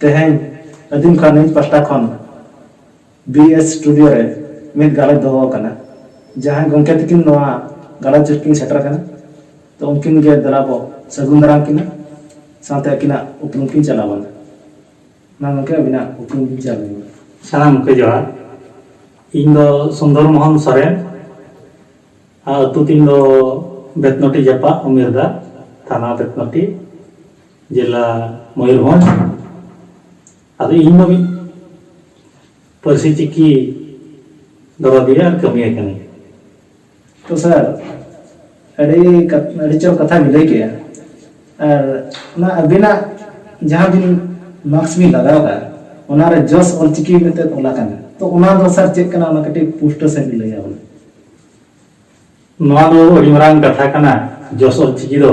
ᱛᱮᱦᱮᱧ ᱟᱫᱤᱢᱠᱟ ᱱᱤᱭᱩᱡᱽ ᱯᱟᱥᱴᱟ ᱠᱷᱚᱱ ᱵᱤ ᱮᱥ ᱥᱴᱩᱰᱤᱭᱳ ᱨᱮ ᱢᱤᱫ ᱜᱟᱞᱚᱪ ᱫᱚᱦᱚ ᱟᱠᱟᱱᱟ᱾ ᱡᱟᱦᱟᱸᱭ ᱜᱚᱢᱠᱮ ᱛᱤᱠᱤᱱ ᱱᱚᱣᱟ ᱜᱟᱞᱚᱪ ᱨᱮᱠᱤᱱ ᱥᱮᱴᱮᱨ ᱟᱠᱟᱱᱟ ᱛᱚ ᱩᱱᱠᱤᱱ ᱜᱮ ᱫᱮᱞᱟ ᱵᱚ ᱥᱟᱹᱜᱩᱱ ᱫᱟᱨᱟᱢ ᱠᱤᱱᱟ ᱥᱟᱶᱛᱮ ᱟᱹᱠᱤᱱᱟᱜ ᱩᱯᱨᱩᱢ ᱠᱤᱱ ᱪᱟᱞ ᱟᱵᱚᱱᱟ᱾ ᱢᱟ ᱜᱚᱢᱠᱮ ᱟᱹᱵᱤᱱᱟᱜ ᱩᱯᱨᱩᱢ ᱵᱤᱱ ᱪᱟᱞ ᱟᱹᱞᱤᱧ ᱢᱟ᱾ ᱥᱟᱱᱟᱢ ᱠᱚᱜᱮ ᱡᱚᱦᱟᱨ᱾ ᱤᱧ ᱫᱚ ᱥᱩᱱᱫᱚᱨ ᱢᱚᱦᱚᱱ ᱥᱚᱨᱮᱱ᱾ ᱟᱨ ᱟᱹᱛᱩ ᱛᱤᱧ ᱫᱚ ᱵᱮᱛᱱᱚᱴᱤ ᱡᱟᱯᱟᱜ ᱩᱢᱮᱨᱫᱟ ᱛᱷᱟᱱᱟ ᱵᱮᱛᱱᱚᱴᱤ᱾ ᱡᱮᱞᱟ ᱢᱚᱭᱩᱨᱵᱷᱚᱸᱡᱽ ᱟᱫᱚ ᱤᱧ ᱫᱚ ᱢᱤᱫ ᱯᱟᱹᱨᱥᱤ ᱪᱤᱠᱤ ᱫᱚᱨᱚᱫᱤᱭᱟᱹ ᱟᱨ ᱠᱟᱹᱢᱤᱭᱟᱹ ᱠᱟᱹᱱᱟᱹᱧ ᱛᱚ ᱥᱟᱨ ᱟᱹᱰᱤ ᱟᱹᱰᱤ ᱪᱚᱨᱚᱠ ᱠᱟᱛᱷᱟ ᱵᱤᱱ ᱞᱟᱹᱭ ᱠᱮᱜᱼᱟ ᱟᱨ ᱚᱱᱟ ᱟᱹᱵᱤᱱᱟᱜ ᱡᱟᱦᱟᱸ ᱵᱤᱱ ᱢᱟᱨᱠᱥ ᱵᱤᱱ ᱞᱟᱜᱟᱣ ᱠᱟᱜᱼᱟ ᱚᱱᱟᱨᱮ ᱡᱚᱥ ᱚᱞᱪᱤᱠᱤ ᱢᱮᱱᱛᱮ ᱚᱞ ᱟᱠᱟᱱᱟ ᱛᱚ ᱚᱱᱟ ᱫᱚ ᱥᱟᱨ ᱪᱮᱫ ᱠᱟᱱᱟ ᱚᱱᱟ ᱠᱟᱹᱴᱤᱡ ᱯᱩᱥᱴᱟᱹ ᱥᱟᱺᱦᱤᱡ ᱞᱟᱹᱭᱟ ᱵᱚᱞᱮ ᱱᱚᱣᱟ ᱫᱚ ᱟᱹᱰᱤ ᱢᱟᱨᱟᱝ ᱠᱟᱛᱷᱟ ᱠᱟᱱᱟ ᱡᱚᱥ ᱚᱞᱪᱤᱠᱤ ᱫᱚ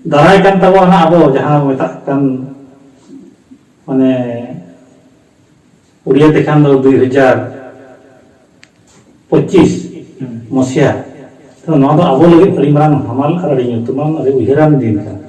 ᱫᱟᱨᱟᱭ ᱠᱟᱱ ᱛᱟᱵᱚᱱᱟ ᱦᱟᱸᱜ ᱟᱵᱚ ᱡᱟᱦᱟᱸ ᱢᱮᱛᱟᱜ ᱠᱟᱱ ᱢᱟᱱᱮ ᱩᱲᱤᱭᱟ ᱛᱮᱠᱷᱟᱱ ᱫᱚ ᱫᱩᱭ ᱦᱟᱡᱟᱨ ᱯᱚᱸᱪᱤᱥ ᱢᱚᱥᱤᱭᱟ ᱛᱚ ᱱᱚᱣᱟ ᱫᱚ ᱟᱵᱚ ᱞᱟᱹᱜᱤᱫ ᱟᱹᱰᱤ ᱢᱟᱨᱟᱝ ᱦᱟᱢᱟᱞ ᱟᱨ ᱟᱹᱰᱤ ᱧᱩᱛᱩᱢᱟᱱ ᱟᱹᱰᱤ ᱩᱭᱦᱟᱹᱨᱟᱱ ᱫᱤᱱ ᱠᱟᱱᱟ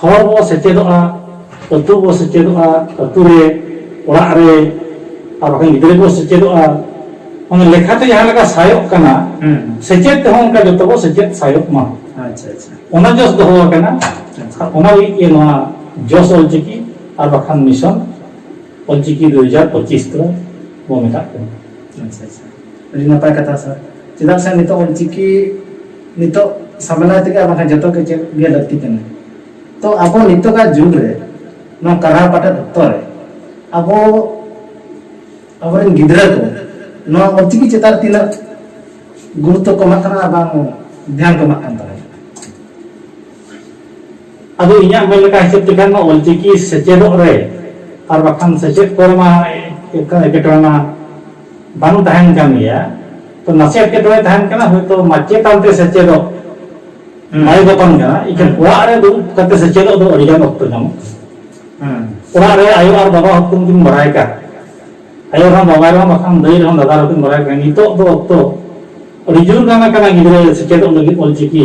ᱦᱚᱨ ᱵᱚ ᱥᱮᱪᱮᱫᱚᱜᱼᱟ ᱟᱹᱛᱩ ᱵᱚ ᱥᱮᱪᱮᱫᱚᱜᱼᱟ ᱟᱹᱛᱩ ᱨᱮ ᱚᱲᱟᱜ ᱨᱮ ᱟᱨ ᱵᱟᱠᱷᱟᱱ ᱜᱤᱫᱽᱨᱟᱹ ᱠᱚ ᱥᱮᱪᱮᱫᱚᱜᱼᱟ ᱚᱱᱟ ᱞᱮᱠᱷᱟᱛᱮ ᱡᱟᱦᱟᱸ ᱞᱮᱠᱟ ᱥᱟᱭᱚᱜ ᱠᱟᱱᱟ ᱥᱮᱪᱮᱫ ᱛᱮᱦᱚᱸ ᱚᱱᱠᱟ ᱡᱚᱛᱚ ᱵᱚ ᱥᱮᱪᱮᱫ ᱥᱟᱭᱚᱜ ᱢᱟ ᱟᱪᱪᱷᱟ ᱟᱪᱪᱷᱟ ᱚᱱᱟ ᱡᱚᱥ ᱫᱚᱦᱚ ᱟᱠᱟᱱᱟ ᱟᱨ ᱚᱱᱟ ᱞᱟᱹᱜᱤᱫ ᱜᱮ ᱱᱚᱣᱟ ᱡᱚᱥ ᱚᱞᱪᱤᱠᱤ ᱟᱨ ᱵᱟᱠᱷᱟᱱ ᱢᱤᱥᱚᱱ ᱚᱞᱪᱤᱠᱤ ᱫᱩ ᱦᱟᱡᱟᱨ ᱯᱚᱸᱪᱤᱥ ᱫᱚ ᱵᱚ ᱢᱮᱛᱟᱜ ᱠᱟᱱᱟ ᱟᱪᱪᱷᱟ ᱟᱪᱪᱷᱟ ᱟᱹᱰᱤ ᱱᱟᱯᱟᱭ ᱠᱟᱛᱷᱟ ᱥᱟᱨ ᱪᱮᱫᱟᱜ ᱥᱮ ᱱᱤᱛᱚᱜ ᱚᱞᱪᱤᱠᱤ ᱱᱤᱛᱚᱜ ᱥᱟᱢᱮᱞᱟᱭ ᱛᱮᱜᱮ ᱟᱨ ᱵᱟᱝᱠᱷᱟᱱ ᱡᱚᱛᱚ ᱜᱮ ᱪᱮᱫ ᱜᱮ ᱞᱟᱹᱠᱛᱤ ᱠᱟᱱᱟ ᱛᱚ ᱟᱵᱚ ᱱᱤᱛᱚᱜᱟᱜ ᱡᱩᱜᱽ ᱨᱮ ᱱᱚᱣᱟ ᱠᱟᱨᱦᱟ ᱯᱟᱴᱮᱫ ᱚᱠᱛᱚ ᱨᱮ ᱟᱵᱚ ᱟᱵᱚᱨᱮᱱ ᱜᱤᱫᱽᱨᱟᱹ ᱠᱚ ᱱᱚᱣᱟ ᱚᱞᱪᱤᱠᱤ ᱪᱮᱛᱟᱱ ᱨᱮ ᱛᱤᱱᱟᱹᱜ ᱜᱩᱨᱩᱛᱛᱚ ᱠᱚ ᱮᱢᱟᱜ ᱠᱟᱱᱟ ᱟᱨ ᱵᱟᱝ ᱫᱷᱮᱭᱟᱱ ᱠᱚ ᱮᱢᱟᱜ ᱠᱟᱱ ᱛᱟᱵᱚᱱᱟ ᱟᱫᱚ ᱤᱧᱟᱜ ᱢᱮᱱ ᱞᱮᱠᱟ ᱦᱤᱥᱟᱹᱵ ᱛᱮᱠᱷᱟᱱ ᱢᱟ ᱚᱞᱪᱤᱠᱤ ᱥᱮᱪᱮᱫᱚᱜ ᱨᱮ ᱟᱨ ᱵᱟᱠᱷᱟᱱ ᱥᱮᱪᱮᱫ ᱠᱚᱨᱮ ᱢᱟ ᱮᱴᱠᱮᱴᱚᱬᱮ ᱢᱟ ᱵᱟᱝ ᱛᱟᱦᱮᱱ ᱠᱟᱱ ᱜᱮᱭᱟ ᱛᱚ ᱱᱟᱥᱮ ᱮᱴᱠᱮᱴᱚᱬᱮ ᱛᱟᱦᱮᱱ ᱠᱟᱱᱟ ᱦᱚᱭᱛᱚ ᱢᱟᱪᱮᱛᱟᱱ ᱛᱮ ᱥᱮᱪᱮᱫᱚᱜ ᱵᱟᱭ ᱜᱚᱛᱚᱱ ᱠᱟᱱᱟ ᱤᱠᱷᱟᱹᱱ ᱚᱲᱟᱜ ᱨᱮ ᱫᱩᱲᱩᱵ ᱠᱟᱛᱮ ᱥᱮᱪᱮᱫᱚᱜ ᱫᱚ ᱟᱹᱰᱤ ᱜᱟᱱ ᱚᱠᱛᱚ ᱧᱟᱢᱚᱜ ᱠᱟᱱᱟ ᱚᱲᱟᱜ ᱨᱮ ᱟᱭᱳ ᱟᱨ ᱵᱟᱵᱟ ᱦᱚᱸ ᱠᱤᱱ ᱵᱟᱲᱟᱭ ᱠᱟᱱ ᱟᱭᱳ ᱨᱮᱦᱚᱸ ᱵᱟᱵᱟ ᱨᱮᱦᱚᱸ ᱵᱟᱠᱷᱟᱱ ᱫᱟᱹᱭ ᱨᱮᱦᱚᱸ ᱫᱟᱫᱟ ᱨᱮᱦᱚᱸ ᱠᱤᱱ ᱵᱟᱲᱟᱭ ᱠᱟᱱᱟ ᱱᱤᱛᱚᱜ ᱫᱚ ᱚᱠᱛᱚ ᱟᱹᱰᱤ ᱡᱳᱨ ᱜᱟᱱ ᱟᱠᱟᱱᱟ ᱜᱤᱫᱽᱨᱟᱹ ᱥᱮᱪᱮᱫᱚᱜ ᱞᱟᱹᱜᱤᱫ ᱚᱞᱪᱤᱠᱤ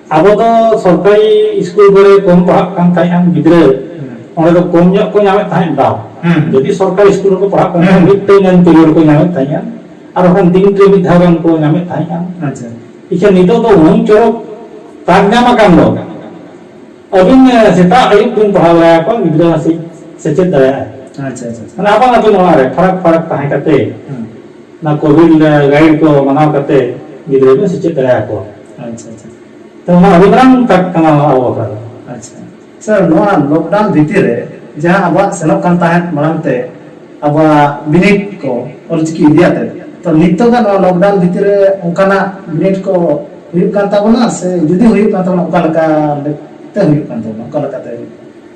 ᱟᱵᱚ ᱫᱚ ᱥᱚᱨᱠᱟᱨᱤ ᱤᱥᱠᱩᱞ ᱠᱚᱨᱮ ᱠᱚᱢ ᱯᱟᱲᱦᱟᱜ ᱠᱟᱱ ᱛᱟᱦᱮᱸᱫ ᱜᱤᱫᱽᱨᱟᱹ ᱚᱸᱰᱮ ᱫᱚ ᱠᱚᱢ ᱧᱚᱜ ᱠᱚ ᱧᱟᱢᱮᱫ ᱛᱟᱦᱮᱸᱫ ᱫᱟᱣ ᱡᱩᱫᱤ ᱥᱚᱨᱠᱟᱨᱤ ᱤᱥᱠᱩᱞ ᱨᱮᱠᱚ ᱯᱟᱲᱦᱟᱜ ᱠᱟᱱ ᱛᱟᱦᱮᱸᱫ ᱢᱤᱫ ᱴᱟᱹᱭᱤᱢ ᱮᱢ ᱯᱤᱨᱤᱭᱚᱰ ᱠᱚ ᱧᱟᱢᱮᱫ ᱛᱟᱦᱮᱸᱫ ᱟᱨ ᱵᱟᱠᱷᱟᱱ ᱫᱤᱱ ᱨᱮ ᱢᱤᱫ ᱫᱷᱟᱣ ᱜᱟᱱ ᱠᱚ ᱧᱟᱢᱮᱫ ᱛᱟᱦᱮᱸᱫ ᱤᱠᱷᱟᱹᱱ ᱱᱤᱛᱚᱜ ᱫᱚ ᱩᱱᱟᱹᱝ ᱪᱚᱨᱚᱠ ᱛᱟᱠ ᱧᱟᱢ ᱟᱠᱟᱱ ᱫᱚ ᱟᱹᱵᱤᱱ ᱥᱮᱛᱟᱜ ᱟᱹᱭᱩᱵ ᱵᱤᱱ ᱯᱟᱲᱦᱟᱣ ᱫᱟᱲᱮᱭᱟᱠᱚᱣᱟ ᱜᱤᱫᱽᱨᱟᱹ ᱱᱟᱥᱮ ᱥᱮᱪᱮᱫ ᱫᱟᱲᱮᱭᱟᱜᱼᱟᱭ ᱟᱪᱪᱷᱟ ᱟᱪᱪᱷᱟ ᱢᱟᱱᱮ ᱟᱯᱟᱱ ᱟᱹᱯᱤᱱ ᱚᱲᱟᱜ ᱨᱮ ᱯᱷᱟᱨᱟᱠ ᱯᱷᱟᱨᱟᱠ ᱛᱟᱦᱮᱸ ᱠᱟᱛᱮ ᱚᱱᱟ ᱠᱳᱵᱷᱤᱰ ᱜᱟᱭᱤᱰ ᱠᱚ ᱢᱟᱱᱟᱣ ᱠᱟᱛᱮ ᱜᱤᱫᱽᱨᱟᱹ ᱵᱚᱱ ᱥᱮᱪᱮᱫ ᱫᱟᱲᱮᱭᱟᱠᱚᱣᱟ ᱟᱪᱪᱷᱟ ᱟᱪᱪᱷᱟ ᱛᱚ ᱚᱱᱟ ᱟᱹᱰᱤ ᱢᱟᱨᱟᱝ ᱠᱟᱴ ᱠᱟᱱᱟ ᱱᱚᱣᱟ ᱟᱵᱚ ᱵᱟᱠᱷᱨᱟ ᱫᱚ ᱟᱪᱪᱷᱟ ᱥᱟᱨ ᱱᱚᱣᱟ ᱞᱚᱠᱰᱟᱣᱩᱱ ᱵᱷᱤᱛᱤᱨ ᱨᱮ ᱡᱟᱦᱟᱸ ᱟᱵᱚᱣᱟᱜ ᱥᱮᱱᱚᱜ ᱠᱟᱱ ᱛᱟᱦᱮᱸᱫ ᱢᱟᱲᱟᱝ ᱛᱮ ᱟᱵᱚᱣᱟᱜ ᱵᱤᱱᱤᱰ ᱠᱚ ᱚᱞᱪᱤᱠᱤ ᱤᱫᱤᱭᱟᱛᱮ ᱛᱚ ᱱᱤᱛᱚᱜᱟᱜ ᱱᱚᱣᱟ ᱞᱚᱠᱰᱟᱣᱩᱱ ᱵᱷᱤᱛᱤᱨ ᱨᱮ ᱚᱱᱠᱟᱱᱟᱜ ᱵᱤᱱᱤᱰ ᱠᱚ ᱦᱩᱭᱩᱜ ᱠᱟᱱ ᱛᱟᱵᱚᱱᱟ ᱥᱮ ᱡᱩᱫᱤ ᱦᱩᱭᱩᱜ ᱠᱟᱱ ᱛᱟᱵᱚᱱᱟ ᱚᱠᱟ ᱞᱮᱠᱟ ᱛᱮ ᱦᱩᱭᱩᱜ ᱠᱟᱱ ᱛᱟᱵᱚᱱᱟ ᱚᱠᱟ ᱞᱮᱠᱟᱛᱮ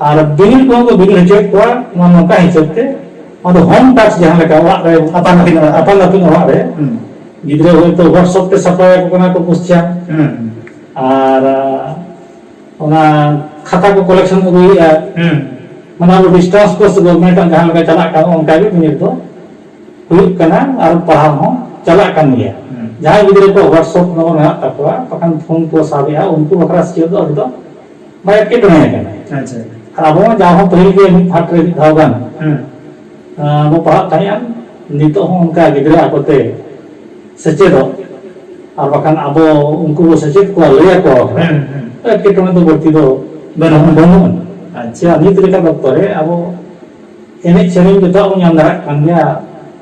ᱟᱨ ᱵᱤᱞ ᱠᱚ ᱠᱚ ᱵᱤᱞ ᱦᱚᱪᱚᱭᱮᱫ ᱠᱚᱣᱟ ᱱᱚᱣᱟ ᱱᱚᱝᱠᱟ ᱦᱤᱥᱟᱹᱵ ᱛᱮ ᱟᱫᱚ ᱦᱳᱢ ᱴᱟᱥᱠ ᱡᱟᱦᱟᱸ ᱞᱮᱠᱟ ᱚᱲᱟᱜ ᱨᱮ ᱟᱯᱟᱱ ᱟᱹᱯᱤᱱ ᱚᱲᱟᱜ ᱟᱯᱟᱱ ᱟᱹᱯᱤᱱ ᱚᱲᱟᱜ ᱨᱮ ᱜᱤᱫᱽᱨᱟᱹ ᱦᱚᱭᱛᱳ ᱦᱳᱣᱟᱴᱥᱚᱯ ᱛᱮ ᱥᱟᱯᱲᱟᱣ ᱟᱠᱚ ᱠᱟᱱᱟ ᱠᱚ ᱠᱚᱥᱪᱟᱱ ᱟᱨ ᱚᱱᱟ ᱠᱷᱟᱛᱟ ᱠᱚ ᱠᱚᱞᱮᱠᱥᱚᱱ ᱟᱹᱜᱩᱭᱮᱫᱼᱟ ᱢᱟᱱᱮ ᱟᱵᱚ ᱰᱤᱥᱴᱟᱱᱥ ᱠᱳᱨᱥ ᱜᱚᱵᱷᱚᱨᱱᱢᱮᱱᱴ ᱟᱜ ᱡᱟᱦᱟᱸ ᱞᱮᱠᱟ ᱪᱟᱞᱟᱜ ᱠᱟᱱᱟ ᱚᱱᱠᱟ ᱜᱮ ᱵᱤᱱᱤᱰ ᱫᱚ ᱦᱩᱭᱩᱜ ᱠᱟᱱᱟ ᱟᱨ ᱯᱟᱲᱦᱟᱣ ᱦᱚᱸ ᱪᱟᱞᱟᱜ ᱠᱟᱱ ᱜᱮᱭᱟ ᱡᱟᱦᱟᱸᱭ ᱜᱤᱫᱽᱨᱟᱹ ᱠᱚ ᱦᱳᱣᱟᱴᱥᱚᱯ ᱱᱚᱢᱵᱚᱨ ᱢᱮᱱᱟᱜ ᱛᱟᱠᱚᱣᱟ ᱵᱟᱠᱷᱟᱱ ᱯᱷᱳᱱ ᱠᱚ ᱥᱟᱵᱮᱫᱼᱟ ᱩᱱᱠᱩ ᱵᱟᱠᱷᱨᱟ ᱥᱤᱪᱩᱭᱮᱥᱚᱱ ᱫᱚ ᱟᱹᱰᱤ ᱫᱚ ᱵᱟᱭ ᱮᱴᱠᱮᱴᱚᱬᱮ ᱟᱠᱟᱱᱟ ᱟᱪᱪᱷᱟ ᱟᱨ ᱟᱵᱚ ᱢᱟ ᱡᱟᱣ ᱦᱚᱸ ᱯᱟᱹᱦᱤᱞ ᱜᱮ ᱢᱤᱫ ᱯᱷᱟᱴ ᱨᱮ ᱢᱤᱫ ᱫᱷᱟᱣ ᱜᱟᱱ ᱵᱚ ᱯᱟᱲᱦᱟᱜ ᱛᱟᱦᱮᱸᱜᱼᱟ ᱱᱤᱛᱚᱜ ᱦᱚᱸ ᱚᱱᱠᱟ ᱜᱤᱫᱽᱨᱟᱹ ᱟᱠᱚᱛᱮ ᱥᱮᱪᱮᱫᱚᱜ ᱟᱨ ᱵᱟᱠᱷᱟᱱ ᱟᱵᱚ ᱩᱱᱠᱩ ᱵᱚ ᱥᱮᱪᱮᱫ ᱠᱚᱣᱟ ᱞᱟᱹᱭ ᱟᱠᱚᱣᱟ ᱮᱴᱠᱮᱴᱚᱬᱮ ᱫᱚ ᱵᱟᱹᱲᱛᱤ ᱫᱚ ᱵᱟᱹᱱᱩᱜᱼᱟ ᱵᱟᱹᱱᱩᱜᱼᱟ ᱟᱪᱪᱷᱟ ᱱᱤᱛ ᱞᱮᱠᱟᱱ ᱚᱠᱛᱚ ᱨᱮ ᱟᱵᱚ ᱮᱱᱮᱡ ᱥᱮᱨᱮᱧ ᱡᱚᱛᱚᱣᱟᱜ ᱵᱚᱱ ᱧᱟᱢ ᱫᱟᱲᱮᱭᱟᱜ ᱠᱟᱱ ᱜᱮᱭᱟ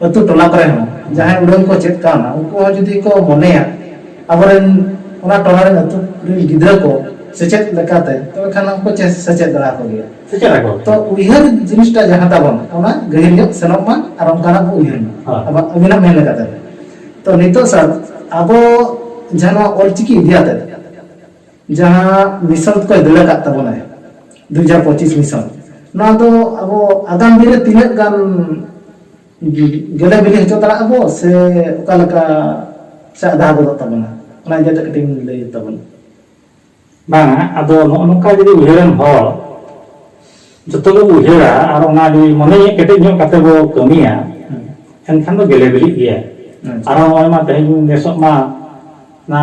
ᱟᱹᱛᱩ ᱴᱚᱞᱟ ᱠᱚᱨᱮ ᱦᱚᱸ ᱡᱟᱦᱟᱸᱭ ᱩᱰᱟᱹᱝ ᱠᱚ ᱪᱮᱫ ᱠᱟᱣᱱᱟ ᱩᱱᱠᱩ ᱦᱚᱸ ᱡᱩᱫᱤ ᱠᱚ ᱢᱚᱱᱮᱭᱟ ᱟᱵᱚᱨᱮᱱ ᱚᱱᱟ ᱴᱚᱞᱟ ᱨᱮᱱ ᱟᱹᱛᱩ ᱨᱮᱱ ᱜᱤᱫᱽᱨᱟᱹ ᱠᱚ ᱥᱮᱪᱮᱫ ᱞᱮᱠᱟᱛᱮ ᱛᱚᱵᱮ ᱠᱷᱟᱱ ᱦᱚᱸ ᱠᱚ ᱥᱮᱪᱮᱫ ᱫᱟᱲᱮ ᱟᱠᱚ ᱜᱮᱭᱟ ᱥᱮᱪᱮᱫ ᱟᱠᱚ ᱛᱚ ᱩᱭᱦᱟᱹᱨ ᱡᱤᱱᱤᱥᱴᱟ ᱡᱟᱦᱟᱸ ᱛᱟᱵᱚᱱ ᱚᱱᱟ ᱜᱟᱹᱦᱤᱨ ᱧᱚᱜ ᱥᱮᱱᱚᱜ ᱢᱟ ᱟᱨ ᱚᱱᱠᱟᱱᱟᱜ ᱵᱚ ᱩᱭᱦᱟᱹᱨ ᱢᱟ ᱦᱳᱭ ᱟᱵᱚ ᱟᱹᱵᱤᱱᱟᱜ ᱢᱮᱱ ᱞᱮᱠᱟᱛᱮ ᱛᱚ ᱱᱤᱛᱚᱜ ᱥᱟᱨ ᱟᱵᱚ ᱡᱟᱦᱟᱸ ᱱᱚᱣᱟ ᱚᱞᱪᱤᱠᱤ ᱤᱫᱤ ᱟᱛᱮ ᱡᱟᱦᱟᱸ ᱢᱤᱥᱚᱱ ᱠᱚᱭ ᱫᱟᱹᱲ ᱟᱠᱟᱫ ᱛᱟᱵᱚᱱᱟᱭ ᱫᱩ ᱦᱟᱡᱟᱨ ᱯᱚᱸᱪᱤᱥ ᱢᱤᱥᱚᱱ ᱱᱚᱣᱟ ᱫᱚ ᱟᱵᱚ ᱟᱜᱟᱢ ᱫᱤᱱ ᱨᱮ ᱛᱤᱱᱟᱹᱜ ᱜᱟᱱ ᱜᱮᱞᱮ ᱵᱤᱞᱤ ᱦᱚᱪᱚ ᱫᱟᱲᱮᱭᱟᱜ ᱟᱵᱚ ᱥᱮ ᱚᱠᱟ ᱞᱮᱠᱟ ᱥᱮ ᱟᱫᱷᱟ ᱜᱚᱫᱚᱜ ᱛᱟᱵᱚᱱᱟ ᱚᱱᱟ ᱤᱫᱤ ᱠᱟᱛᱮ ᱠᱟᱹᱴᱤᱡ ᱞᱟᱹᱭ ᱛᱟᱵᱚᱱᱟ ᱵᱟᱝ ᱟᱫᱚ ᱱᱚᱜᱼᱚ ᱱᱚᱝᱠᱟ ᱡᱩᱫᱤ ᱩᱭᱦᱟᱹᱨᱟᱱ ᱦᱚᱲ ᱡᱚᱛᱚ ᱜᱮ ᱩᱭᱦᱟᱹᱨᱟ ᱟᱨ ᱚᱱᱟ ᱡᱩᱫᱤ ᱢᱚᱱᱮ ᱠᱮᱴᱮᱡ ᱧᱚᱜ ᱠᱟᱛᱮ ᱵᱚ ᱠᱟᱹᱢᱤᱭᱟ ᱮᱱᱠᱷᱟᱱ ᱫᱚ ᱜᱮᱞᱮ ᱵᱤᱞᱤᱜ ᱜᱮᱭᱟ ᱟᱨ ᱱᱚᱜᱼᱚᱭ ᱢᱟ ᱛᱮᱦᱮᱧ ᱱᱮᱥᱚᱜ ᱢᱟ ᱚᱱᱟ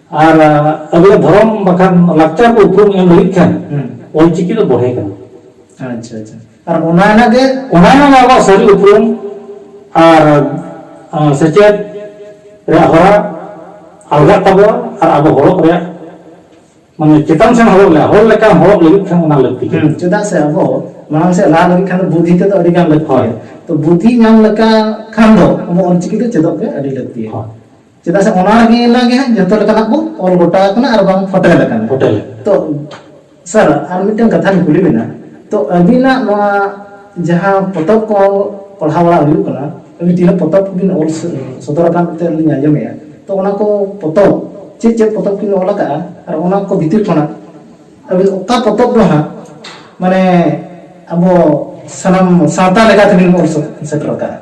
ᱟᱨ ᱟᱵᱚᱣᱟᱜ ᱫᱷᱚᱨᱚᱢ ᱵᱟᱠᱷᱟᱱ ᱞᱟᱠᱪᱟᱨ ᱠᱚ ᱩᱯᱨᱩᱢ ᱮᱢ ᱞᱟᱹᱜᱤᱫ ᱠᱷᱟᱱ ᱚᱞᱪᱤᱠᱤ ᱫᱚ ᱵᱚᱲᱦᱮ ᱠᱟᱱᱟ ᱟᱪᱪᱷᱟ ᱟᱪᱪᱷᱟ ᱟᱨ ᱚᱱᱟ ᱨᱮᱱᱟᱜ ᱜᱮ ᱚᱱᱟ ᱨᱮᱱᱟᱜ ᱟᱵᱚᱣᱟᱜ ᱥᱟᱹᱨᱤ ᱩᱯᱨᱩᱢ ᱟᱨ ᱥᱮᱪᱮᱫ ᱨᱮᱭᱟᱜ ᱦᱚᱨᱟ ᱟᱞᱜᱟᱜ ᱛᱟᱵᱚᱣᱟ ᱟᱨ ᱟᱵᱚ ᱦᱚᱲᱚᱜ ᱨᱮᱭᱟᱜ ᱢᱟᱱᱮ ᱪᱮᱛᱟᱱ ᱥᱮᱱ ᱦᱚᱲᱚᱜ ᱞᱮ ᱦᱚᱲ ᱞᱮᱠᱟᱱ ᱦᱚᱲᱚᱜ ᱞᱟᱹᱜᱤᱫ ᱠᱷᱟᱱ ᱚᱱᱟ ᱞᱟᱹᱠᱛᱤ ᱠᱟᱱᱟ ᱪᱮᱫᱟᱜ ᱥᱮ ᱟᱵᱚ ᱢᱟᱲᱟᱝ ᱥᱮᱫ ᱞᱟᱦᱟ ᱞᱟᱹᱜᱤᱫ ᱠᱷᱟᱱ ᱫᱚ ᱵᱩᱫᱷᱤ ᱛᱮᱫᱚ ᱟᱹᱰᱤ ᱜᱟᱱ ᱞᱟᱹᱠᱛᱤ ᱛᱚ ᱵᱩᱫᱷᱤ ᱧᱟᱢ ᱞᱮᱠᱟ ᱠᱷᱟᱱ ᱫᱚ ᱟᱵᱚ ᱚᱞᱪᱤᱠᱤ ᱫᱚ ᱪᱮᱫᱚᱜ ᱜᱮ ᱟᱹᱰᱤ ᱞᱟᱹᱠᱛᱤᱭᱟ ᱪᱮᱫᱟᱜ ᱥᱮ ᱚᱱᱟ ᱨᱮᱜᱮ ᱮᱱᱟᱜ ᱜᱮ ᱦᱟᱸᱜ ᱡᱚᱛᱚ ᱞᱮᱠᱟᱱᱟᱜ ᱵᱚ ᱚᱞ ᱜᱚᱴᱟ ᱟᱠᱟᱱᱟ ᱟᱨ ᱵᱟᱝ ᱯᱷᱚᱴᱮᱞ ᱟᱠᱟᱱᱟ ᱯᱷᱚᱴᱮᱞ ᱛᱚ ᱥᱟᱨ ᱟᱨ ᱢᱤᱫᱴᱮᱱ ᱠᱟᱛᱷᱟᱧ ᱠᱩᱞᱤ ᱵᱮᱱᱟ ᱛᱚ ᱟᱹᱵᱤᱱᱟᱜ ᱱᱚᱣᱟ ᱡᱟᱦᱟᱸ ᱯᱚᱛᱚᱵ ᱠᱚ ᱯᱟᱲᱦᱟᱣ ᱵᱟᱲᱟ ᱦᱩᱭᱩᱜ ᱠᱟᱱᱟ ᱟᱹᱵᱤᱱ ᱛᱤᱱᱟᱹᱜ ᱯᱚᱛᱚᱵ ᱠᱚᱵᱤᱱ ᱚᱞ ᱥᱚᱫᱚᱨ ᱟᱠᱟᱱ ᱛᱮ ᱞᱤᱧ ᱟᱸᱡᱚᱢᱮᱜᱼᱟ ᱛᱚ ᱚᱱᱟ ᱠᱚ ᱯᱚᱛᱚᱵ ᱪᱮᱫ ᱪᱮᱫ ᱯᱚᱛᱚᱵ ᱠᱤᱱ ᱚᱞ ᱟᱠᱟᱜᱼᱟ ᱟᱨ ᱚᱱᱟ ᱠᱚ ᱵᱷᱤᱛᱤᱨ ᱠᱷᱚᱱᱟᱜ ᱟᱹᱵᱤᱱ ᱚᱠᱟ ᱯᱚᱛᱚᱵ ᱫᱚ ᱦᱟᱸᱜ ᱢᱟᱱᱮ ᱟᱵᱚ ᱥᱟᱱᱟᱢ ᱥᱟᱶᱛᱟ ᱞᱮᱠᱟ ᱛᱮᱵᱤᱱ ᱚᱞ ᱥᱮᱴᱮᱨ ᱟᱠᱟᱜᱼᱟ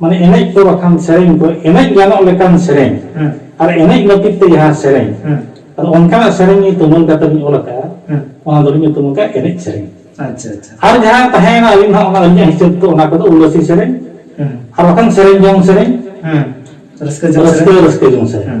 ᱢᱟᱱᱮ ᱮᱱᱮᱡ ᱠᱚ ᱵᱟᱠᱷᱟᱱ ᱥᱮᱨᱮᱧ ᱠᱚ ᱮᱱᱮᱡ ᱜᱟᱱᱚᱜ ᱞᱮᱠᱟᱱ ᱥᱮᱨᱮᱧ ᱟᱨ ᱮᱱᱮᱡ ᱞᱟᱹᱜᱤᱫ ᱛᱮ ᱡᱟᱦᱟᱸ ᱥᱮᱨᱮᱧ ᱟᱫᱚ ᱚᱱᱠᱟᱱᱟᱜ ᱥᱮᱨᱮᱧ ᱛᱩᱢᱟᱹᱞ ᱠᱟᱛᱮ ᱞᱤᱧ ᱚᱞ ᱟᱠᱟᱫᱼᱟ ᱚᱱᱟ ᱫᱚᱞᱤᱧ ᱧᱩᱛᱩᱢ ᱟᱠᱟᱫᱼᱟ ᱮᱱᱮᱡ ᱥᱮᱨᱮᱧ ᱟᱪᱪᱷᱟ ᱟᱪᱪᱷᱟ ᱟᱨ ᱡᱟᱦᱟᱸ ᱛᱟᱦᱮᱸᱭᱮᱱᱟ ᱟᱹᱞᱤᱧ ᱦᱚᱸ ᱚᱱᱟ ᱟᱹᱞᱤᱧᱟᱜ ᱦᱤᱥᱟᱹᱵ ᱛᱮ ᱚᱱᱟ ᱠᱚᱫᱚ ᱩᱞᱟᱹᱥᱤ ᱥᱮᱨᱮᱧ ᱟᱨ ᱵᱟᱠᱷᱟᱱ ᱥᱮᱨᱮᱧ ᱡᱚᱝ ᱥᱮᱨᱮᱧ ᱨᱟᱹᱥᱠᱟᱹ ᱡᱚᱝ ᱥᱮᱨᱮᱧ ᱨᱟᱹᱥᱠᱟᱹ ᱡᱚᱝ ᱥᱮᱨᱮᱧ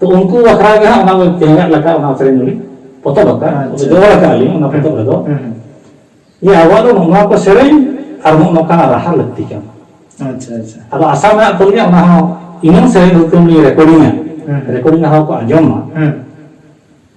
ᱛᱚ ᱩᱱᱠᱩ ᱵᱟᱠᱷᱨᱟ ᱜᱮ ᱦᱟᱸᱜ ᱚᱱᱟ ᱛᱮᱦᱮᱧᱟᱜ ᱞᱮᱠᱟ ᱚᱱᱟ ᱥᱮᱨᱮᱧ ᱫᱚᱞᱤᱧ ᱯᱚᱛᱚᱵ ᱟᱠᱟᱫ ᱡᱚᱲ ᱟᱠᱟᱫ ᱟᱹᱞᱤᱧ ᱚᱱᱟ ᱯᱚᱛᱚᱵ ᱨᱮᱫᱚ ᱡᱮ ᱟᱵᱚᱣᱟᱜ ᱫᱚ ᱱᱚᱣᱟ ᱠᱚ ᱥᱮᱨᱮᱧ ᱟᱨ ᱱᱚᱜᱼᱚ ᱱᱚᱝᱠᱟᱱᱟᱜ ᱨᱟᱦᱟ ᱞᱟᱹᱠᱛᱤ ᱠᱟᱱᱟ ᱟᱪᱪᱷᱟ ᱟᱪᱪᱷᱟ ᱟᱫᱚ ᱟᱥᱟ ᱢᱮᱱᱟᱜ ᱛᱟᱹᱞᱤᱧᱟ ᱚᱱᱟ ᱦᱚᱸ ᱤᱱᱟᱹ ᱥᱮᱨᱮᱧ ᱦᱚᱛᱮ ᱞᱤᱧ ᱨᱮᱠᱚᱨᱰᱤᱝᱟ ᱨᱮᱠᱚᱨᱰᱤᱝ ᱦᱚᱸ ᱠᱚ ᱟᱸᱡᱚᱢᱟ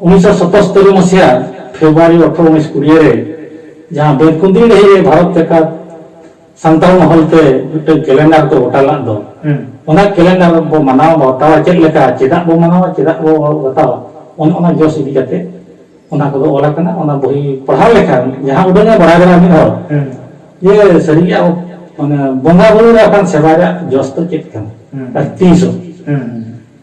ᱩᱱᱤᱥᱥᱚ ᱥᱚᱛᱚᱥᱛᱚᱨᱤ ᱢᱟᱹᱥᱤᱦᱟ ᱯᱷᱮᱵᱽᱨᱩᱣᱟᱨᱤ ᱚᱴᱷᱨᱚ ᱩᱱᱤᱥ ᱠᱩᱲᱤᱭᱟᱹ ᱨᱮ ᱡᱟᱦᱟᱸ ᱵᱮᱸᱛᱠᱩᱸᱫᱽᱨᱤ ᱰᱟᱹᱦᱤ ᱨᱮ ᱵᱷᱟᱨᱚᱛ ᱡᱟᱠᱟᱛ ᱥᱟᱱᱛᱟᱲ ᱢᱚᱦᱚᱞ ᱛᱮ ᱢᱤᱫᱴᱟᱝ ᱠᱮᱞᱮᱱᱰᱟᱨ ᱠᱚ ᱜᱚᱴᱟ ᱞᱟᱜ ᱫᱚ ᱚᱱᱟ ᱠᱮᱞᱮᱱᱰᱟᱨ ᱵᱚ ᱢᱟᱱᱟᱣ ᱵᱟᱛᱟᱣᱟ ᱪᱮᱫ ᱞᱮᱠᱟ ᱪᱮᱫᱟᱜ ᱵᱚ ᱢᱟᱱᱟᱣᱟ ᱪᱮᱫᱟᱜ ᱵᱚ ᱵᱟᱛᱟᱣᱟ ᱚᱱ ᱚᱱᱟ ᱡᱚᱥ ᱤᱫᱤ ᱠᱟᱛᱮ ᱚᱱᱟ ᱠᱚᱫᱚ ᱚᱞ ᱟᱠᱟᱱᱟ ᱚᱱᱟ ᱵᱚᱦᱤ ᱯᱟᱲᱦᱟᱣ ᱞᱮᱠᱷᱟᱱ ᱡᱟᱦᱟᱸ ᱩᱰᱟᱹᱝ ᱮ ᱵᱟᱲᱟᱭ ᱫᱟᱲᱮᱭᱟᱜᱼᱟ ᱢᱤᱫ ᱦᱚᱲ ᱡᱮ ᱥᱟᱹᱨᱤᱜᱮ ᱟᱵᱚ ᱢᱟᱱᱮ ᱵᱚᱸᱜᱟ ᱵᱩᱨᱩ ᱨᱮ ᱟᱠᱟᱱ ᱥᱮᱵᱟ ᱨᱮᱭᱟᱜ ᱡᱚᱥ ᱫᱚ ᱪᱮᱫ ᱠᱟᱱᱟ ᱟᱨ ᱛᱤᱥ ᱦᱚᱸ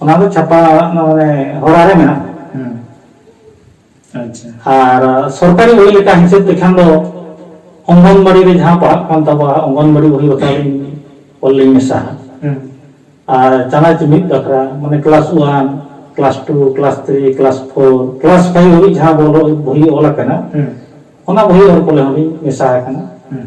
ᱚᱱᱟ ᱫᱚ ᱪᱷᱟᱯᱟ ᱢᱟᱱᱮ ᱦᱚᱨᱟ ᱨᱮ ᱢᱮᱱᱟᱜᱼᱟ ᱦᱮᱸ ᱟᱪᱪᱷᱟ ᱟᱨ ᱥᱚᱨᱠᱟᱨᱤ ᱵᱳᱭ ᱞᱮᱠᱟ ᱦᱤᱥᱟᱹᱵ ᱛᱮᱠᱷᱟᱱ ᱫᱚ ᱚᱝᱜᱚᱱᱵᱟᱲᱤ ᱨᱮ ᱡᱟᱦᱟᱸ ᱯᱟᱲᱦᱟᱜ ᱠᱟᱱ ᱛᱟᱵᱚᱣᱟ ᱚᱝᱜᱚᱱᱵᱟᱲᱤ ᱵᱳᱭ ᱵᱟᱠᱷᱨᱟ ᱞᱤᱧ ᱚᱞ ᱞᱤᱧ ᱢᱮᱥᱟ ᱦᱮᱸ ᱟᱨ ᱪᱟᱱᱟᱪ ᱢᱤᱫ ᱵᱟᱠᱷᱨᱟ ᱢᱟᱱᱮ class one class two class three class four class five ᱦᱟᱹᱵᱤᱡ ᱡᱟᱦᱟᱸ ᱵᱳᱭ ᱚᱞ ᱟᱠᱟᱱᱟ ᱦᱮᱸ ᱚᱱᱟ ᱵᱳᱭ ᱚᱞ ᱠᱚᱨᱮ ᱦᱚᱸᱞᱤᱧ ᱢᱮᱥᱟ ᱟᱠᱟᱱᱟ ᱦᱮᱸ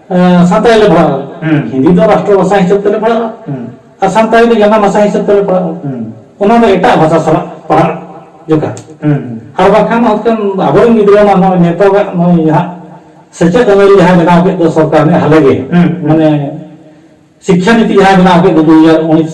ᱥᱟᱱᱛᱟᱲᱤ ᱞᱮ ᱯᱟᱲᱦᱟᱜᱼᱟ ᱦᱤᱱᱫᱤ ᱫᱚ ᱨᱟᱥᱴᱨᱚ ᱵᱷᱟᱥᱟ ᱦᱤᱥᱟᱹᱵ ᱛᱮᱞᱮ ᱯᱟᱲᱦᱟᱜᱼᱟ ᱟᱨ ᱥᱟᱱᱛᱟᱲᱤ ᱫᱚ ᱡᱟᱱᱟᱢ ᱵᱷᱟᱥᱟ ᱦᱤᱥᱟᱹᱵ ᱛᱮᱞᱮ ᱯᱟᱲᱦᱟᱜᱼᱟ ᱚᱱᱟ ᱫᱚ ᱮᱴᱟᱜ ᱵᱷᱟᱥᱟ ᱥᱟᱞᱟᱜ ᱯᱟᱲᱦᱟᱜ ᱡᱚᱠᱷᱟᱱ ᱟᱨ ᱵᱟᱠᱷᱟᱱ ᱦᱚᱛᱠᱟᱱ ᱟᱵᱚᱨᱮᱱ ᱜᱤᱫᱽᱨᱟᱹ ᱢᱟ ᱱᱚᱜᱼᱚᱭ ᱱᱤᱛᱚᱜᱟᱜ ᱱᱚᱜᱼᱚᱭ ᱡᱟᱦᱟᱸ ᱥᱮᱪᱮᱫ ᱟᱹᱱᱟᱹᱨᱤ ᱡᱟᱦᱟᱸ ᱵᱮᱱᱟᱣ ᱠᱮᱫ ᱫᱚ ᱥᱚᱨᱠᱟᱨ ᱱᱮ ᱦᱟᱞᱮ ᱜᱮ ᱢᱟᱱᱮ ᱥᱤᱠᱠᱷᱟ ᱱᱤᱛᱤ ᱡᱟᱦᱟᱸ ᱵᱮᱱᱟᱣ ᱠᱮᱫ ᱫᱚ ᱫᱩ ᱦᱟᱡᱟᱨ ᱩᱱᱤᱥ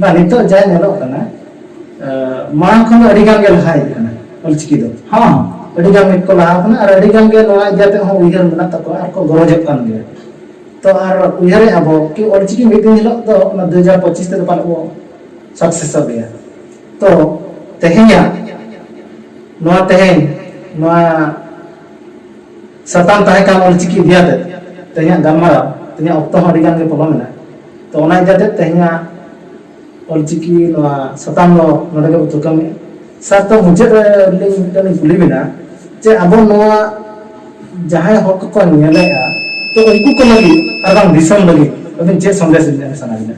ᱵᱟᱝ ᱱᱤᱛᱚᱜ ᱡᱟ ᱧᱮᱞᱚᱜ ᱠᱟᱱᱟ ᱢᱟᱲᱟᱝ ᱠᱷᱚᱱ ᱫᱚ ᱟᱹᱰᱤ ᱜᱟᱱ ᱜᱮ ᱞᱟᱦᱟ ᱦᱮᱡ ᱠᱟᱱᱟ ᱚᱞᱪᱤᱠᱤ ᱫᱚ ᱦᱚᱸ ᱟᱹᱰᱤ ᱜᱟᱱ ᱜᱮ ᱠᱚ ᱞᱟᱦᱟ ᱠᱟᱱᱟ ᱟᱨ ᱟᱹᱰᱤ ᱜᱟᱱ ᱜᱮ ᱱᱚᱣᱟ ᱤᱫᱤ ᱠᱟᱛᱮ ᱦᱚᱸ ᱩᱭᱦᱟᱹᱨ ᱢᱮᱱᱟᱜ ᱛᱟᱠᱚᱣᱟ ᱟᱨ ᱠᱚ ᱜᱚᱨᱚᱡᱚᱜ ᱠᱟᱱ ᱜᱮᱭᱟ ᱛᱚ ᱟᱨ ᱩᱭᱦᱟᱹᱨᱮ ᱟᱵᱚ ᱠᱤ ᱚᱞᱪᱤᱠᱤ ᱢᱤᱫ ᱫᱤᱱ ᱦᱤᱞᱳᱜ ᱫᱚ ᱚᱱᱟ ᱫᱩ ᱦᱟᱡᱟᱨ ᱯᱚᱸᱪᱤᱥ ᱛᱮᱫᱚ ᱯᱟᱞᱮ ᱵᱚ ᱥᱟᱠᱥᱮᱥᱚᱜ ᱜᱮᱭᱟ ᱛᱚ ᱛᱮᱦᱮᱧᱟᱜ ᱱᱚᱣᱟ ᱛᱮᱦᱮᱧ ᱱᱚᱣᱟ ᱥᱟᱛᱟᱢ ᱛᱟᱦᱮᱸ ᱠᱟᱱ ᱚᱞᱪᱤᱠᱤ ᱤᱫᱤ ᱟᱛᱮ ᱛᱮᱦᱮᱧᱟᱜ ᱜᱟᱞᱢᱟᱨᱟᱣ ᱛᱮᱦᱮᱧᱟᱜ ᱚᱠᱛᱚ ᱦᱚᱸ ᱟᱹᱰᱤ ᱜᱟᱱ ᱜᱮ ᱯᱚᱞᱚᱢ ᱮᱱᱟ ᱛᱚ ᱚᱱᱟ ᱤᱫᱤ ᱟᱛᱮ ᱛᱮᱦᱮᱧᱟᱜ ᱚᱞᱪᱤᱠᱤ ᱱᱚᱣᱟ ᱥᱟᱛᱟᱢ ᱫᱚ ᱱᱚᱰᱮ ᱜᱮ ᱛᱷᱩᱠᱟᱹᱢᱮᱜᱼᱟ ᱥᱟᱨ ᱛᱚ ᱢᱩᱪᱟᱹᱫ ᱨᱮ ᱟᱹᱞᱤᱧ ᱢᱤᱫᱴᱟᱝ ᱞᱤᱧ ᱠᱩᱞᱤ ᱵᱮᱱᱟ ᱡᱮ ᱟᱵᱚ ᱱᱚᱣᱟ ᱡᱟᱦᱟᱸᱭ ᱦᱚᱲ ᱠᱚᱠᱚ ᱧᱮᱞᱮᱜᱼᱟ ᱛᱚ ᱩᱱᱠᱩ ᱠᱚ ᱞᱟᱹᱜᱤᱫ ᱟᱨ ᱵᱟᱝ ᱫᱤᱥᱚᱢ ᱞᱟᱹᱜᱤᱫ ᱟᱹᱵᱤᱱ ᱪᱮᱫ ᱥᱚᱱᱫᱮᱥ ᱵᱤᱱ ᱮᱢ ᱥᱟᱱᱟ ᱵᱤᱱᱟ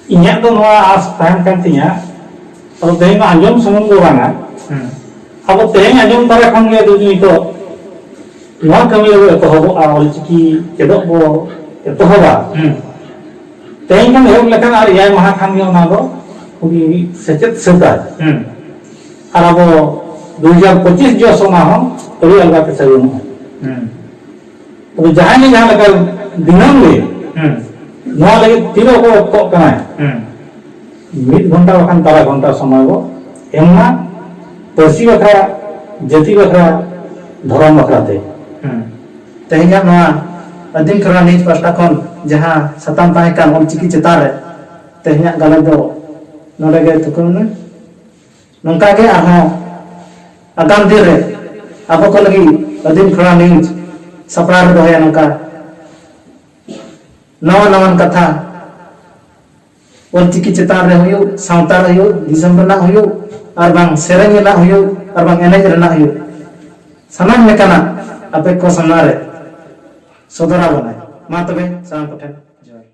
ᱤᱧᱟᱹᱜ ᱫᱚ ᱱᱚᱣᱟ ᱟᱥ ᱛᱟᱦᱮᱱ ᱠᱟᱱ ᱛᱤᱧᱟ ᱟᱫᱚ ᱛᱮᱦᱮᱧ ᱢᱟ ᱟᱸᱡᱚᱢ ᱥᱩᱢᱩᱝ ᱫᱚ ᱵᱟᱝᱟ ᱟᱵᱚ ᱛᱮᱦᱮᱧ ᱟᱸᱡᱚᱢ ᱛᱟᱨᱟ ᱠᱷᱚᱱ ᱜᱮ ᱡᱩᱫᱤ ᱱᱤᱛᱚᱜ ᱱᱚᱣᱟ ᱠᱟᱹᱢᱤ ᱨᱮᱵᱚ ᱮᱛᱚᱦᱚᱵᱚᱜᱼᱟ ᱚᱞᱪᱤᱠᱤ ᱪᱮᱫᱚᱜ ᱵᱚ ᱮᱛᱚᱦᱚᱵᱟ ᱛᱮᱦᱮᱧ ᱠᱷᱚᱱ ᱮᱦᱚᱵ ᱞᱮᱠᱷᱟᱱ ᱟᱨ ᱮᱭᱟᱭ ᱢᱟᱦᱟ ᱠᱷᱟᱱ ᱜᱮ ᱚᱱᱟ ᱫᱚ ᱩᱱᱤ ᱥᱮᱪᱮᱫ ᱥᱟᱹᱛᱟᱭ ᱟᱨ ᱟᱵᱚ ᱫᱩ ᱦᱟᱡᱟᱨ ᱯᱚᱸᱪᱤᱥ ᱡᱚᱥ ᱚᱱᱟ ᱦᱚᱸ ᱟᱹᱰᱤ ᱟᱞᱜᱟ ᱛᱮ ᱥᱟᱹᱜᱩᱱᱚᱜᱼᱟ ᱟᱫᱚ ᱡᱟᱦᱟᱸᱭ ᱡᱟᱦᱟᱸ ᱞᱮᱠᱟ ᱫᱤᱱᱟᱹᱢ ᱜᱮ ᱱᱚᱣᱟ ᱞᱟᱹᱜᱤᱫ ᱛᱤᱱᱟᱹᱜ ᱚᱠᱚᱭ ᱚᱠᱛᱚᱜ ᱠᱟᱱᱟᱭ ᱢᱤᱫ ᱜᱷᱚᱱᱴᱟ ᱵᱟᱠᱷᱟᱱ ᱛᱟᱨᱟ ᱜᱷᱚᱱᱴᱟ ᱥᱚᱢᱚᱭ ᱵᱚ ᱮᱢ ᱢᱟ ᱯᱟᱹᱨᱥᱤ ᱵᱟᱠᱷᱨᱟ ᱡᱟᱹᱛᱤ ᱵᱟᱠᱷᱨᱟ ᱫᱷᱚᱨᱚᱢ ᱵᱟᱠᱷᱨᱟ ᱛᱮ ᱛᱮᱦᱮᱧᱟᱜ ᱱᱚᱣᱟ ᱟᱹᱫᱤᱢ ᱠᱷᱮᱨᱣᱟᱲ ᱱᱤᱭᱩᱡᱽ ᱯᱟᱥᱴᱟ ᱠᱷᱚᱱ ᱡᱟᱦᱟᱸ ᱥᱟᱛᱟᱢ ᱛᱟᱦᱮᱸ ᱠᱟᱱ ᱚᱞᱪᱤᱠᱤ ᱪᱮᱛᱟᱱ ᱨᱮ ᱛᱮᱦᱮᱧᱟᱜ ᱜᱟᱞᱚᱪ ᱫᱚ ᱱᱚᱰᱮ ᱜᱮ ᱛᱷᱩᱠᱟᱹᱢ ᱮᱱᱟ ᱱᱚᱝᱠᱟ ᱜᱮ ᱟᱨᱦᱚᱸ ᱟᱜᱟᱢ ᱫᱤᱱ ᱨᱮ ᱟᱵᱚ ᱠᱚ ᱞᱟᱹᱜᱤᱫ ᱟᱹᱫᱤᱢ ᱠᱷᱚᱲᱟ ᱱᱤᱭᱩᱡᱽ ᱥᱟᱯᱲᱟᱣ ᱨᱮ ᱫᱚᱦᱚᱭᱟ ᱱᱚᱝᱠᱟ ᱱᱟᱣᱟ ᱱᱟᱣᱟᱱ ᱠᱟᱛᱷᱟ ᱚᱞᱪᱤᱠᱤ ᱪᱮᱛᱟᱱ ᱨᱮ ᱦᱩᱭᱩᱜ ᱥᱟᱶᱛᱟ ᱨᱮ ᱦᱩᱭᱩᱜ ᱫᱤᱥᱚᱢ ᱨᱮᱱᱟᱜ ᱦᱩᱭᱩᱜ ᱟᱨ ᱵᱟᱝ ᱥᱮᱨᱮᱧ ᱨᱮᱱᱟᱜ ᱦᱩᱭᱩᱜ ᱟᱨ ᱵᱟᱝ ᱮᱱᱮᱡ ᱨᱮᱱᱟᱜ ᱦᱩᱭᱩᱜ ᱥᱟᱱᱟᱢ ᱞᱮᱠᱟᱱᱟᱜ ᱟᱯᱮ ᱠᱚ ᱥᱟᱢᱟᱝ ᱨᱮ ᱥᱚᱫᱚᱨ ᱟᱵᱚᱱᱟᱭ ᱢᱟ ᱛᱚᱵᱮ ᱥᱟᱱᱟᱢ ᱠᱚᱴᱷᱮᱱ ᱡᱚᱦᱟᱨ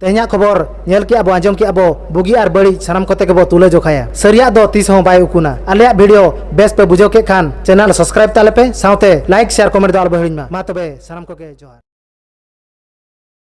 ᱛᱮᱦᱮᱧᱟᱜ ᱠᱷᱚᱵᱚᱨ ᱧᱮᱞ ᱠᱮᱜᱼᱟ ᱵᱚ ᱟᱸᱡᱚᱢ ᱠᱮᱜᱼᱟ ᱵᱚ ᱵᱩᱜᱤ ᱟᱨ ᱵᱟᱹᱲᱤᱡ ᱥᱟᱱᱟᱢ ᱠᱚᱛᱮ ᱜᱮᱵᱚ ᱛᱩᱞᱟᱹ ᱡᱚᱠᱷᱟᱭᱟ ᱥᱟᱹᱨᱤᱭᱟᱜ ᱫᱚ ᱛᱤᱥ ᱦᱚᱸ ᱵᱟᱭ ᱩᱠᱩᱱᱟ ᱟᱞᱮᱭᱟᱜ ᱵᱷᱤᱰᱤᱭᱳ ᱵᱮᱥ ᱯᱮ ᱵᱩᱡᱷᱟᱹᱣ ᱠᱮᱫ ᱠᱷᱟᱱ ᱪᱮᱱᱮᱞ ᱥᱟᱵᱥᱠᱨᱟᱭᱤᱵ ᱛᱟᱞᱮ ᱯᱮ ᱥᱟᱶᱛᱮ ᱞᱟᱭᱤᱠ ᱥᱮᱭᱟᱨ ᱠᱚᱢᱮᱱᱴ ᱫᱚ ᱟᱞᱚ ᱵᱚ ᱦᱤᱲᱤᱧ ᱢᱟ ᱢᱟ ᱛᱚᱵᱮ ᱥᱟᱱᱟᱢ ᱠᱚᱜᱮ ᱡᱚᱦᱟᱨ